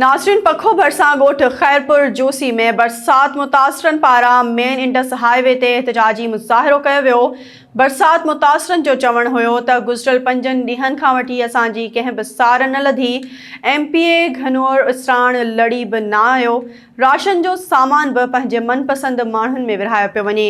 ناظرين پکو ڀرسان ڳوٺ خيرپور جوسي ۾ برسات متاثرن پاران مين انڊس هاء وي تي احتجاجي مظاهرو ڪيو ويو، برسات متاثرن جو چوڻ هيو ته گذريل پنجن ڏينهن کان وٺي اسان جي ڪنهن به سار نه لڌي، ايم پي اي گهنور اسراڻ لڙي به نه آيو، راشن جو سامان به پنهنجي من پسند ماڻهن ۾ ورهايو پيو وڃي،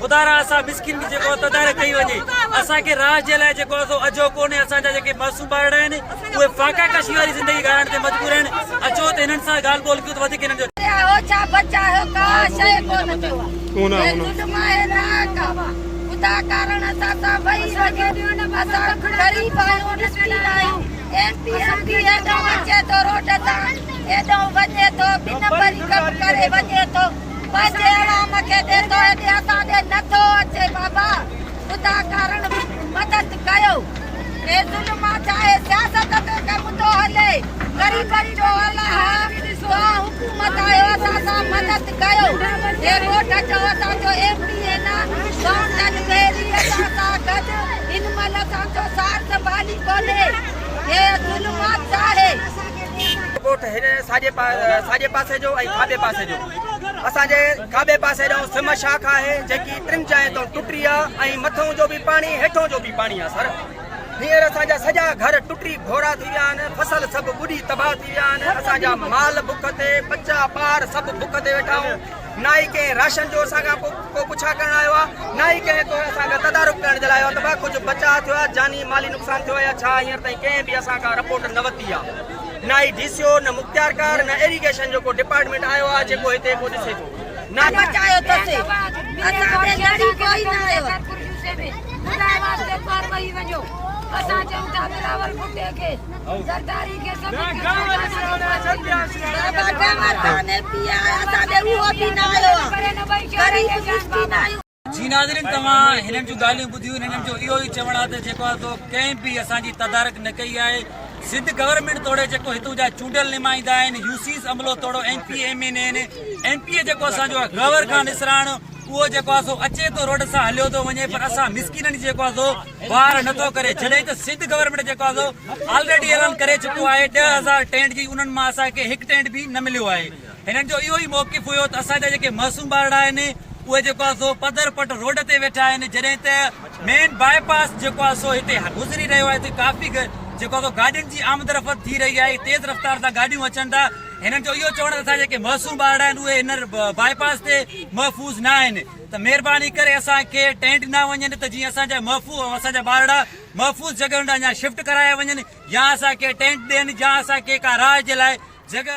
خدا را اسان مسڪين جي جيڪو تدارڪ ڪئي وڃي اسان کي راج جي لاء جيڪو اسو اجهو ڪونهي اسان جا جيڪي معصوم ٻارڙا آهن اهي فاقا ڪشي واري زندگي گذارڻ تي مجبور آهن اچو ته هنن سان ڳالهه ٻولهه ڪيون ته وڌيڪ هنن جو بس ايوان مکي تي توهي تي اسان تي نه ٿو اچي بابا خدا ڪارڻ مدد ڪيو اي ظلما چاهي سياست تي ڪي مدو هلي غريبن جو الاها توهان حڪومت آهيو اسان سان مدد ڪيو اي ڳوٺ جو اسان جو ايم ڊي اي نه مائونٽن بيري اسان سان گڏ هن مهل اسان جو سارت بالي ڪونهي اي ظلما چاهي ڳوٺ هن ساڄي ساڄي پاسي جو ۽ کاٻي پاسي جو اسان جي کاٻي پاسي جو سم شاخ آهي جيڪي ٽن جاين تون ٽٽي آ ۽ مٿون جو به پاڻي هيٺون جو به پاڻي آ سر هينئر اسان جا سڄا گهر ٽٽي گهورا ٿي ويا آهن فصل سڀ ٻڏي تباهه ٿي ويا آهن اسان جا مال بک تي ٻچا ٻار سڀ بک تي ويٺا آهيون نه ئي ڪنهن راشن جو اسان کان ڪو پڇا ڪرڻ آيو آهي، نه ئي ڪنهن ڪو اسان کان تدارڪ ڪرڻ جي لاء آيو آهي ته ڀا ڪجهه بچاء ٿيو آهي، جاني مالي نقصان ٿيو آهي يا ڇا، هينئر تائين ڪنهن به اسان کان رپورٽ نه ورتي آهي. نه ئي ڊي سي او، نه مختيارڪار، نه ايريگيشن جو ڪو ڊپارٽمينٽ آيو آهي جيڪو هتي ڪو ڏسي ٿو. نه پهچايو اٿس، اسان تي لڙي ڪوئي نه آيو آهي. جي ناظرين توهان هنن جون ڳالهيون ٻڌيون هنن جو اهو ئي چوڻ آهي ته جيڪو آهي سو ڪنهن به اسان جي تدارڪ نه ڪئي آهي سنڌ گورنمينٽ توڙي جيڪو هتون جا چونڊيل نمائندا آهن يوسيس عملو توڙو M P M N N M P A جيڪو اسان جو آهي غور خان اسراڻ اهو جيڪو آهي سو اچي ٿو روڊ سان هليو ٿو وڃي پر اسان مسڪينن جي جيڪو آهي سو واهر نه ٿو ڪري جڏهن ته سنڌ گورنمينٽ جيڪو آهي سو آلريڊي اعلان ڪري چڪو آهي ڏهه هزار ٽينٽ جي انهن مان اسان کي هڪ ٽينٽ به نه مليو آهي هنن جو اهو ئي موقف هيو ته اسان جا جيڪي معصوم ٻارڙا آهن اهي جيڪو آهي سو پڌر پٽ روڊ تي ويٺا آهن جڏهن ته مين باء پاس جيڪو آهي سو هتي گذري رهيو آهي هتي ڪافي جيڪو آهي سو گاڏين جي آمد رفت ٿي رهي آهي تيز رفتار سان گاڏيون اچن ٿا هنن جو اهو چوڻ آهي ته جيڪي معصوم ٻارڙا آهن اهي هن بائي پاس تي محفوظ نه آهن ته مهرباني ڪري اسان کي ٽئين ڏنا وڃن ته جيئن اسان جا اسان جا ٻارڙا محفوظ جڳهن ڏانهن يا شفٽ ڪرايا وڃن يا اسان کي ٽئين ڏين يا اسان کي ڪا راهه جي لاء جڳهه